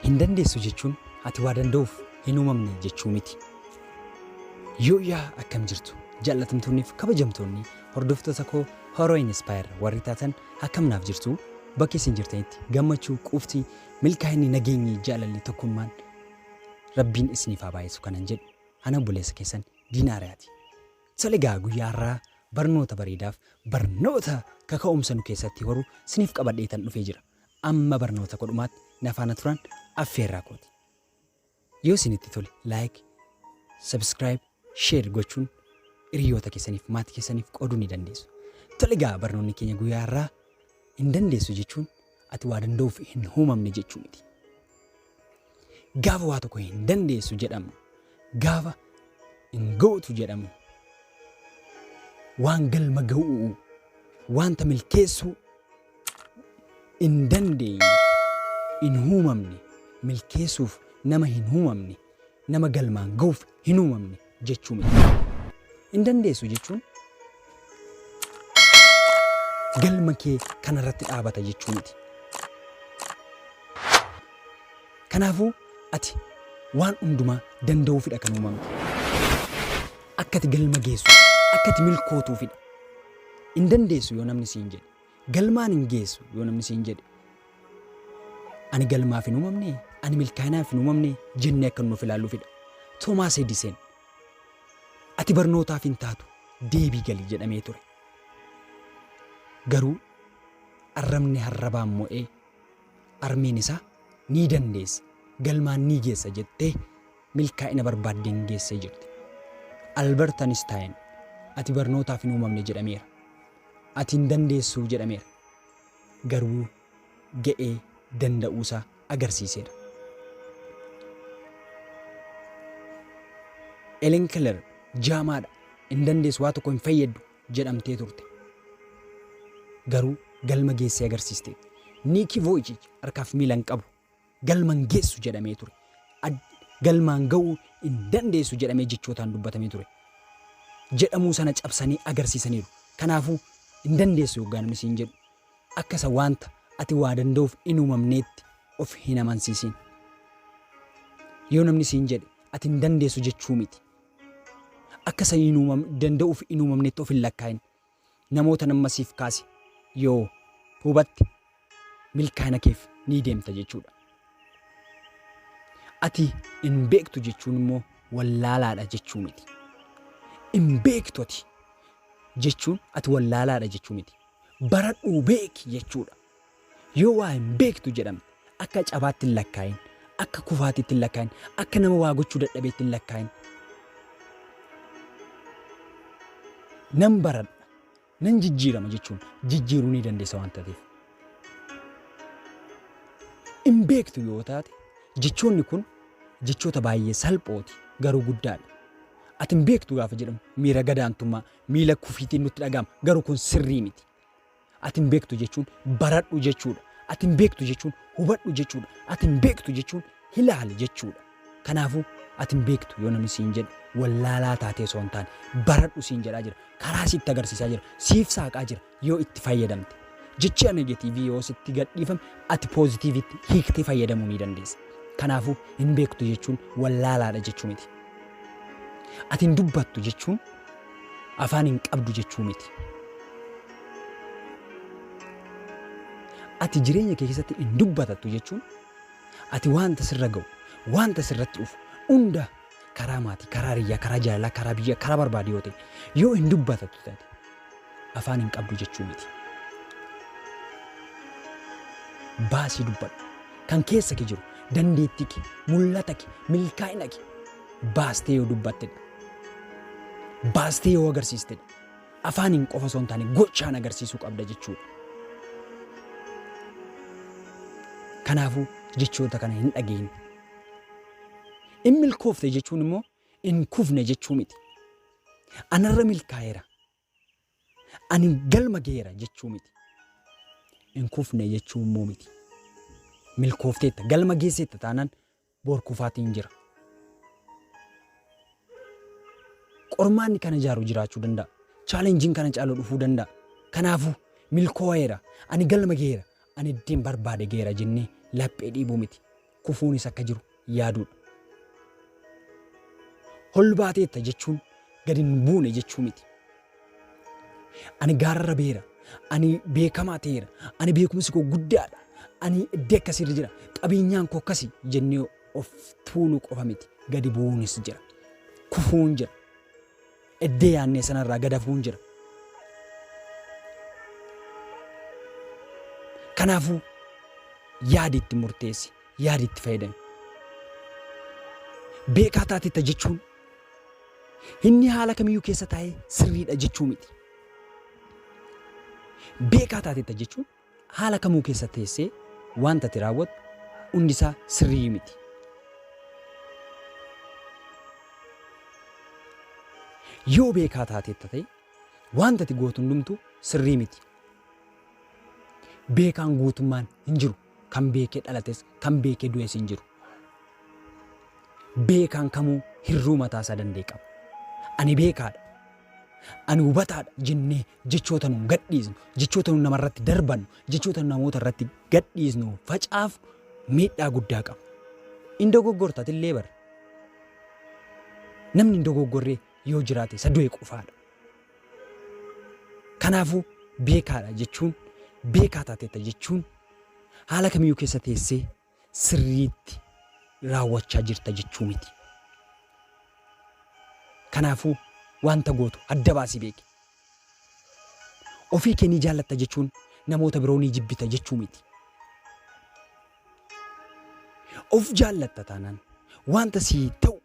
Hin dandeessu jechuun ati waa danda'uuf hin uumamne jechuu miti. Yoo yaa akkam jirtu jaallatamtoonniif kabajamtoonni hordoftoota koo Horoo Inspire warri taatan Akkam naaf jirtuu? Bakka isin jirtanitti gammachuu, quufti, milkaa'inni, nageenyi, jaalalli, tokkummaan Rabbiin isiniif haa baay'isu kanan jedhu ana obboleessa keessan Diinaa Ariyaati. Tole egaa guyyaa har'aa barnoota bareedaaf barnoota kaka'umsa nu keessatti horu isiniif qabadheetan dhufee jira. Amma barnoota koo dhumaatti na faana turaan affeerraa kooti. Yoo isinitti tole like, subscribe, share gochuun hiriyoota keessaniif maatii keessaniif qooduu ni dandeessu. Tole egaa barnoonni keenya guyyaa har'aa hin dandeessu jechuun ati waa danda'uuf hin uumamne jechuu miti. Gaafa waa tokko hin dandeessu jedhamu, gaafa hin gootu jedhamu, waan galma ga'uu, wanta milkeessuu hin dandeenye, hin uumamne, milkeessuuf nama hin uumamne, nama galmaan ga'uuf hin uumamne jechuu miti. Hin dandeessu jechuun galma kee kanarratti dhaabata jechuu miti. Kanaafuu ati waan hundumaa danda'uufidha kan uumamte. Akka ati galma geessu, akka ati milkootuufidha. Hin dandeessu yoo namni siin jedhe. Galmaan hin geessu yoo namni siin jedhe, Ani galmaaf hin uumamne, ani milkaa'inaaf hin uumamne jennee akka nuun of ilaalluufidha. Toomaas Ediseen, Ati barnootaaf hin taatu, deebii gali jedhamee ture. Garuu arrabni harrabaan mo'ee, armeen isaa, Ni dandeessa, galmaan ni geessa jettee, milkaa'ina barbaaddeen geessee jirti. Albert Einstein ati barnootaaf hin uumamne jedhameera. Ati hin dandeessu jedhameera. Garuu ga'ee danda'uusaa agarsiiseera. Elen Keller jaamaadha, hin dandeessu, waa tokko hin fayyaddu jedhamtee turte. Garuu galma geessee agarsiisteetti. Niikii Vooyichiich harkaaf miila hin qabu. galma hin geessu jedhamee ture. Ad, galmaan ga'uu hin dandeessu jedhamee jechootaan dubbatamee ture. Jedhamuu sana cabsanii agarsiisaniiru. Kanaafuu hin dandeessu yoggaa namni siin jedhu akka isa waanta ati waa danda'uuf hin uumamneetti of hin amansiisin. Yoo namni siin jedhe ati hin dandeessu jechuu miti. Akka isa hin uumam, danda'uuf hin uumamneetti of hin lakkaa'in. Namootan amma siif kaase yoo hubatte milkaa'ina keef ni deemta jechuudha. Ati hin beektu jechuun immoo wallaalaadha jechuu miti. Hin beektu ati jechuun ati wallaalaadha jechuu miti. Baradhuu beeki jechuudha. Yoo waa hin beektu jedhamte akka cabaatti hin lakkaa'in, akka kufaatiitti hin lakkaa'in, akka nama waa gochuu dadhabeetti hin lakkaa'in. Nan baradha, nan jijjiirama jechuun jijjiiruu ni dandeessa waan taateef. Hin beektu yoo taate jechoonni kun jechoota baay'ee salphooti garuu guddaadha. Ati hin beektu gaafa jedhamu miira gadaantummaa, miila kufiitiin nutti dhaga'ama garuu kun sirrii miti. Ati hin beektu jechuun baradhu jechuudha. Ati hin beektu jechuun hubadhu jechuudha. Ati hin beektu jechuun hilaali jechuudha. Kanaafuu ati hin beektu yoo namni siin jedhu wallaalaa taatee osoo hin taane baradhu siin jedhaa jira. Karaa sitti agarsiisaa jira. Siif saaqaa jira yoo itti fayyadamte. Jechi anegeetiivii yoo sitti gadhiifame ati poozitiivitti hiiktee fayyadamuu ni dandeessa. Kanaafuu hin beektu jechuun wallaalaadha jechuu miti. Ati hin dubbattu jechuun Afaan hin qabdu jechuu miti. Ati jireenya kee keessatti hin dubbatattu jechuun ati waanta sirra ga'u, waanta sirratti dhufu hunda karaa maatii, karaa hiriyyaa, karaa jaalalaa, karaa biyyaa, karaa barbaade yoo ta'e yoo hin dubbatattu taate afaan hin qabdu jechuu miti. Baasii dubbadhu. Kan keessa kee jiru dandeettii kee, mul'ata kee, milkaa'ina kee baastee yoo dubbattedha. Baastee yoo agarsiistedha. Afaaniin qofa osoo hin taane gochaan agarsiisuu qabda jechuudha. Kanaafuu jechoota kana hin dhageenye. In milkoofte jechuun immoo in kufne jechuu miti. Anarra milkaa'eera. Ani galma geera jechuu miti. Hin kufne jechuu immoo miti. Milkoofteetta galma geesseetta taanaan boor kufaatiin jira. Qormaanni kana jaaru jiraachuu danda'a. Chaalenjiin kana caalu dhufuu danda'a. Kanaafuu milkoo'eera. Ani galma geera. Ani ittiin barbaade geera jennee laphee dhiibuu miti. kufuunis akka jiru yaaduudha. Ol baateetta jechuun gad hin buune jechuu miti. Ani gaararra beera, ani beekamaa ta'eera, ani beekumsi koo guddaadha, ani iddoo akkasiirra jira, qabeenyaan koo akkasi jennee of tuuluu qofa miti. Gadi bu'uunis jira, kufuun jira. Eddee yaannee sana irraa gad hafuun jira. Kanaafuu yaadi itti murteessi, yaadi itti fayyadami. Beekaa taatetta jechuun inni haala kamiyyuu keessa taa'ee sirriidha jechuu miti. Beekaa taatetta jechuun haala kamuu keessa teessee waanta ati raawwattu hundisaa sirrii miti. Yoo beekaa taateetta ta'e waanta ati gootu hundumtuu sirrii miti. Beekaan guutummaan hin jiru. Kan beekee dhalates, kan beekee du'es hin jiru. Beekaan kamuu hirruu mataasaa danda'e qaba. Ani beekaadha, ani hubataadha jennee jechoota nun gadhiisnu, jechoota nun namarratti darbannu, jechoota nun namoota irratti gadhiisnu, facaafnu miidhaa guddaa qaba. In dogoggorta atillee bar. Namni hin dogoggorree yoo jiraate isa du'e qofaadha. Kanaafuu beekaadha jechuun beekaa taateetta jechuun haala kamiyyuu keessa teessee sirriitti raawwachaa jirta jechuu miti. Kanaafuu wanta gootu adda baasii beeki. Ofii kee ni jaallatta jechuun namoota biroo ni jibbita jechuu miti. Of jaallatta taanaan wanta sii ta'u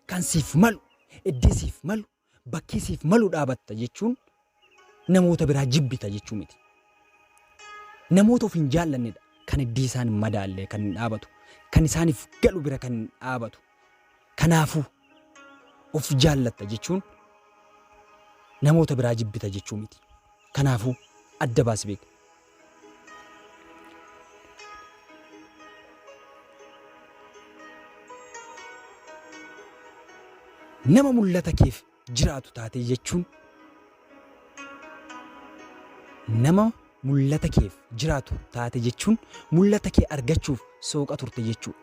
kan siif malu, eddee siif malu Bakkee siif malu dhaabatta jechuun namoota biraa jibbita jechuu miti. Namoota of hin jaallannedha. Kan iddii isaan hin madaalle kan hin dhaabatu. Kan isaaniif galu bira kan hin dhaabatu. Kanaafuu of jaallatta jechuun namoota biraa jibbita jechuu miti. Kanaafuu adda baasi beeki. Nama mul'ata keef jiraatu taatee jechuun nama mul'ata keef jiraatu taate jechuun mul'ata kee argachuuf sooqa turte jechuudha.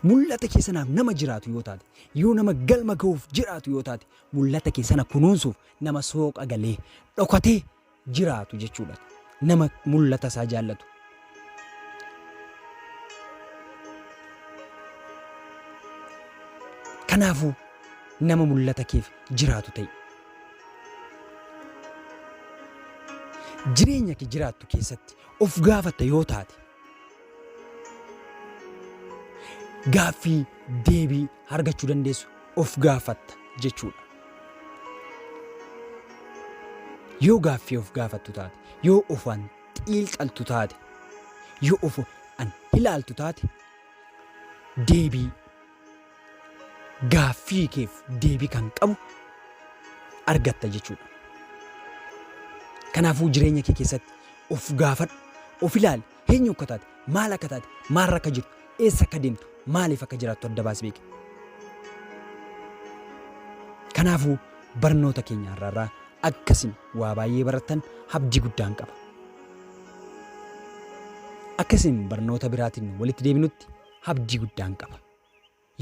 Mul'ata kee sanaaf nama jiraatu yoo taate, yoo nama galma ga'uuf jiraatu yoo taate, mul'ata kee sana kunuunsuuf nama sooqa galee dhokatee jiraatu jechuudha. Nama mul'ata isaa jaallatu. Kanaafuu nama mul'ata keef jiraatu ta'i. Jireenya kee jiraattu keessatti of gaafatta yoo taate gaaffii deebii argachuu dandeessu of gaafatta jechuudha. Yoo gaaffii of gaafattu taate, yoo ofan xiilxaltu taate, yoo of an hilaaltu taate, deebii gaaffii keef deebii kan qabu argatta jechuudha. Kanaafuu jireenya kee keessatti of gaafadhu, of ilaali. Eenyu akka taate, maal akka taate, maalirra akka jirtu, eessa akka deemtu, maaliif akka jiraattu adda baasi beeki. Kanaafuu barnoota keenya har'aarraa akka isin waa baay'ee barattan abdii guddaan qaba. Akka isin barnoota biraatiin walitti deebinutti abdii guddaan qaba.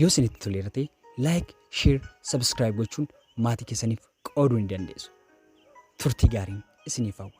Yoo isinitti toleera ta'e like, share, subscribe gochuun maatii keessaniif qooduu ni dandeessu. Turtii gaariin isiniif hawwa.